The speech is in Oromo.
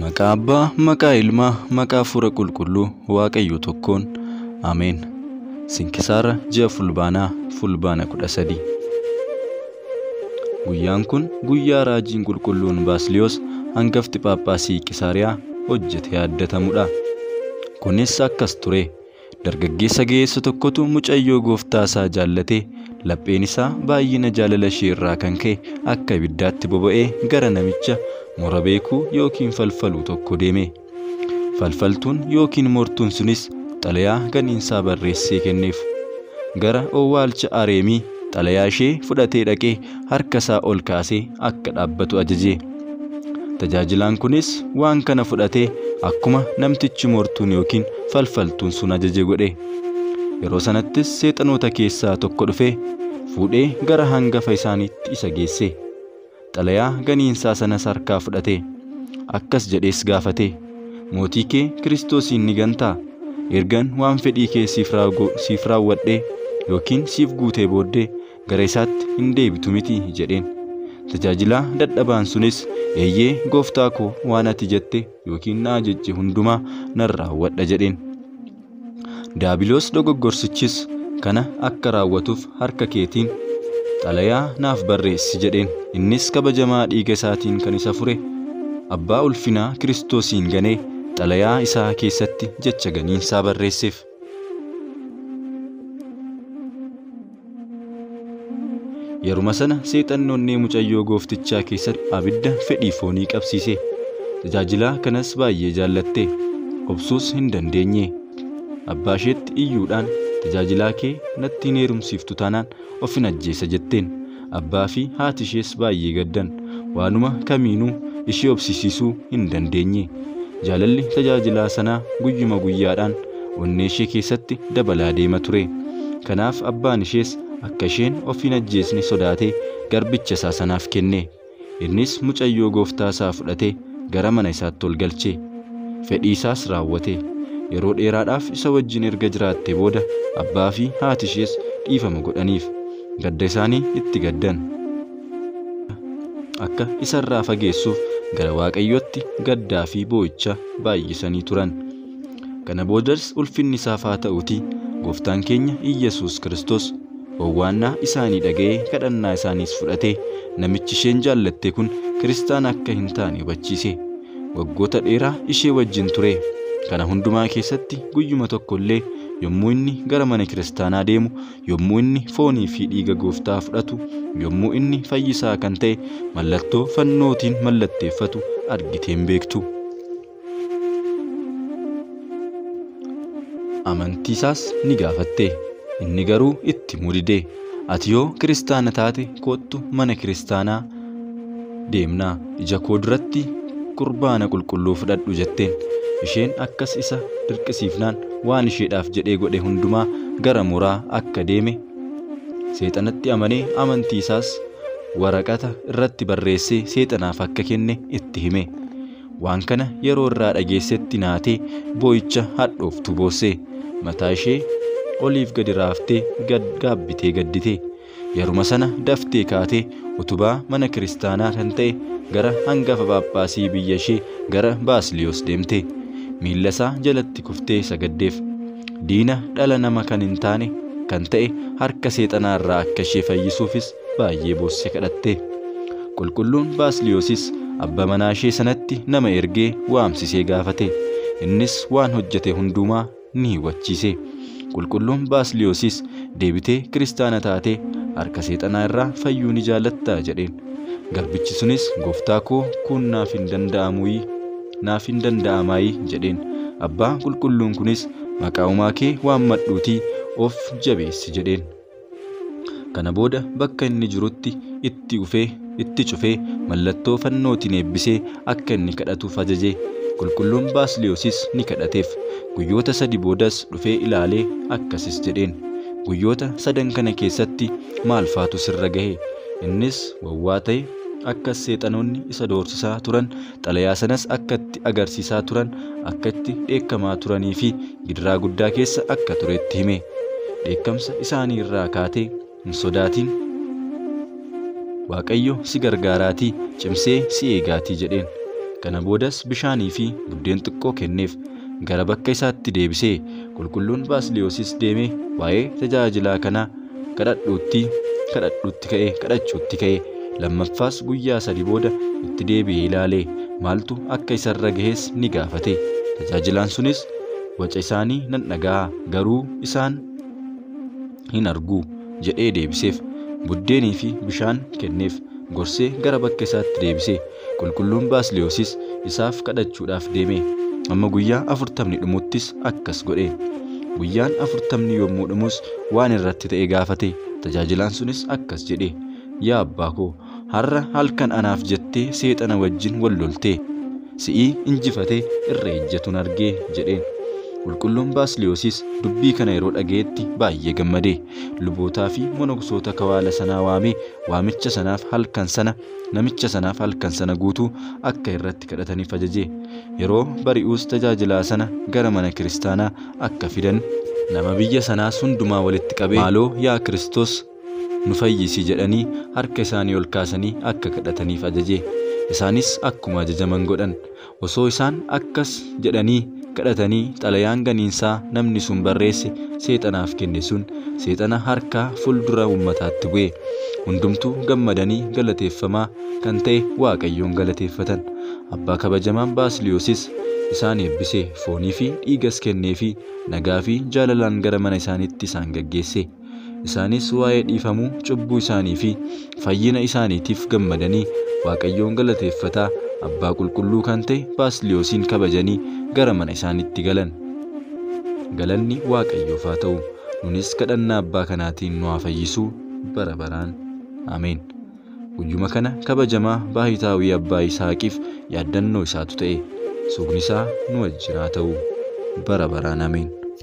Maqaa Abbaa, maqaa Ilmaa, maqaa Hafuura Qulqulluu Waaqayyo tokkoon. Ameen. Sinkisaara ji'a Fulbaanaa Fulbaana 13. Guyyaan kun guyyaa raajiin qulqulluun Baasiliyoos hangafti Phaaphaasii Qisaariyaa hojjete yaaddatamudha. Kunis akkas ture. Dargaggeessa ga'eessa tokkotu mucayyoo gooftaa isaa jaallatee lapheen isaa baay'ina jaalala ishee irraa kan ka'e akka ibiddaatti boba'ee gara namicha mura beekuu yookiin falfaluu tokko deeme. Falfaltuun yookiin mortuun sunis xalayaa ganiinsaa barreessee kenneef. Gara owwaalcha Areemii Xalayaa ishee fudhatee dhaqee harka isaa ol kaasee akka dhaabbatu ajaje. Tajaajilaan kunis waan kana fudhatee akkuma namtichi mortuun yookiin falfaltuun sun ajaje godhe. Yeroo sanattis seexanoota keessaa tokko dhufee fuudhee gara hangafa isaaniitti isa geesse. Xalayaa ganiinsaa sanas harkaa fudhatee, akkas jedhees gaafate, Mootii kee Kiristoosiin ni gantaa? Ergan waan fedhii kee siif raagu, siif raawwadhee yookiin siif guutee booddee gara isaatti hin deebitu miti jedheen. Tajaajilaa dadhabaan sunis, Eeyyee, gooftaa koo, waan ati jette yookiin na ajajje hundumaa nan raawwadha jedheen. Daabiloos dogoggorsichis kana akka raawwatuuf harka keetiin xalayaa naaf barreessi jedheen. Innis kabajamaa dhiiga isaatiin kan isa fure abbaa ulfinaa Kiristoosiin ganee xalayaa isaa keessatti jecha ganiinsaa barreesseef. Yeruma sana seexanni onnee mucayyoo gooftichaa keessatti abidda fedhii foonii qabsiise. Tajaajilaa kanas baay'ee jaallatte. Obsuus hin dandeenye. Abbaa isheetti iyyuudhaan tajaajilaa kee natti hin heerumsiiftu taanaan ofin ajjeesa jetteen. Abbaa fi haati ishees baay'ee gaddan. waanuma kamiinuu ishii obsisiisuu hin dandeenye. Jaalalli tajaajilaa sanaa guyyuma guyyaadhaan onnee ishee keessatti dabalaa deema ture. Kanaaf abbaan ishees akka isheen of hin ajjeesne sodaatee garbicha isaa sanaaf kenne. Innis mucayyoo gooftaa isaa fudhatee gara mana isaatti ol galche. Fedhii isaas raawwate. Yeroo dheeraadhaaf isa wajjin erga jiraatte booda abbaa fi haati ishees dhiifama godhaniif. Gadda isaanii itti gaddan. akka isarraa fageessuuf gara waaqayyootti gaddaa fi boo'icha baay'isanii turan. Kana boodas ulfinni isaaf haa ta'uti gooftaan keenya Iyyasuus Kiristoos owwaannaa isaanii dhaga'ee kadhannaa isaaniis fudhate namichi isheen jaallatte kun kiristaana akka hin taane hubachiise. Waggoota dheeraa ishee wajjin ture. Kana hundumaa keessatti guyyuma tokko illee yommuu inni gara mana kiristaanaa deemu yommuu inni foonii fi dhiiga gooftaa fudhatu, yommuu inni fayyisaa kan ta'e mallattoo fannootiin mallatteeffatu argitee hin beektu. Amantiisaas ni gaafatte. Inni garuu itti mudide. Ati yoo kiristaana taate koottu mana kiristaanaa deemna ija koo duratti qurbaana qulqulluu fudhadhu jetteen isheen akkas isa dirqisiifnaan waan isheedhaaf jedhee godhe hundumaa gara mooraa akka deeme seexanatti amanee amantii isaas waraqata irratti barreessee seexanaaf akka kenne itti hime waan kana yeroo irraa dhageessetti naatee boo'icha hadhooftu boosse mataa ishee oliif gadi raaftee gad gaabbitee gaddite Yeruma sana daftee kaatee utubaa mana kiristaanaa kan ta'e gara hangafa phaaphaasii biyya ishee gara Baasliyoos deemte. Miilla isaa jalatti kuftee sagaddeef. Diina dhala nama kan hin taane kan ta'e harka seexanaa irraa akka ishee fayyisuufis baay'ee boosse kadhatte. Qulqulluun Baasliyoosis abba manaa ishee sanatti nama ergee waamsisee gaafate. Innis waan hojjete hundumaa ni hubachiise. Qulqulluun Baasliyosis deebitee kiristaana taatee harka seexanaa irraa fayyuu ni jaallatta jedheen. Garbichi sunis gooftaa koo kun naaf hin danda'amuyi naaf hin danda'amaayi jedheen. Abbaa qulqulluun kunis maqaa uumaa kee waammadhuutii of jabeessi jedheen. Kana booda bakka inni jirutti itti ufee, itti cufee, mallattoo fannootiin eebbisee akka inni kadhatuuf ajaje. Qulqulluun Baasiliyosis ni kadhateef. Guyyoota sadi boodas dhufee ilaalee akkasis jedheen, Guyyoota sadan kana keessatti maal faatu sirra gahe? Innis wawwaa ta'e, akkas seexanoonni isa doorsisaa turan Xalayaa sanas akka itti agarsiisaa turan, akka itti dheekkamaa turanii fi gidiraa guddaa keessa akka ture itti hime. Dheekkamsa isaanii irraa kaatee, Hin sodaatin. Waaqayyo si gargaaraatii, cimsee si eegaatii jedheen. Kana boodas bishaanii fi buddeen xiqqoo kenneef. gara bakka isaatti deebise. Qulqulluun Baasiliyosis deemee waa'ee tajaajilaa kanaa kadhadhuutti kadhadhuutti ka'e kadhachuutti ka'e. Lammaffaas guyyaa sadi booda itti deebi'ee ilaale. Maaltu akka isarra gahes ni gaafate. Tajaajilaan sunis waca isaanii nan dhaga'a garuu isaan hin argu jedhee deebiseef. Buddeenii fi bishaan kenneef. Gorsee gara bakka isaatti deebise. Qulqulluun Baasliyosis isaaf kadhachuudhaaf deeme. Amma guyyaa afurtamni dhumuttis akkas godhe. Guyyaan afurtamni yommuu dhumus waan irratti ta'e gaafate. Tajaajilaan sunis akkas jedhe. Yaa abbaa koo har'a halkan anaaf jettee seexana wajjin wal loltee si'ii injifatee irra ejjatuun argee jedheen. Qulqulluun Baasliyoosiis dubbii kana yeroo dhaga'etti baay'ee gammadee lubootaa fi monoksoota kawaala sanaa waamee waamicha sanaaf halkan sana namicha sanaaf halkan sana guutuu akka irratti kadhataniif ajajee yeroo bari'uus tajaajilaa sana gara mana kiristaanaa akka fidan nama biyya sanaas hundumaa walitti qabee maaloo yaa Kiristoos nu fayyisi jedhanii harka isaanii ol kaasanii akka kadhataniif ajaje. Isaanis akkuma ajajaman godhan. Osoo isaan akkas jedhanii kadhatanii xalayaan ganiinsaa namni sun barreesse seexanaaf kenne sun seexana harkaa fuldura ummataatti bu'e. Hundumtuu gammadanii galateeffamaa kan ta'e Waaqayyoon galateeffatan. Abbaa kabajamaan Baasiliyoosis isaan eebbise, foonii fi dhiigas kenneefii nagaa fi jaalalaan gara mana isaaniitti isaan gaggeesse. Isaanis waa'ee dhiifamuu cubbuu isaanii fi fayyina isaaniitiif gammadanii Waaqayyoon galateeffataa abbaa qulqulluu kan ta'e Baasliyoosiin kabajanii gara mana isaanitti galan. Galanni Waaqayyoof haa ta'u. Nunis kadhannaa abbaa kanaatiin nu haa fayyisu bara baraan. Ameen. Guyyuma kana kabajamaa baahitaawii abbaa Yisihaaqiif yaaddannoo isaatu ta'e. Sugni isaa nu wajjin haa ta'u. Bara baraan ameen.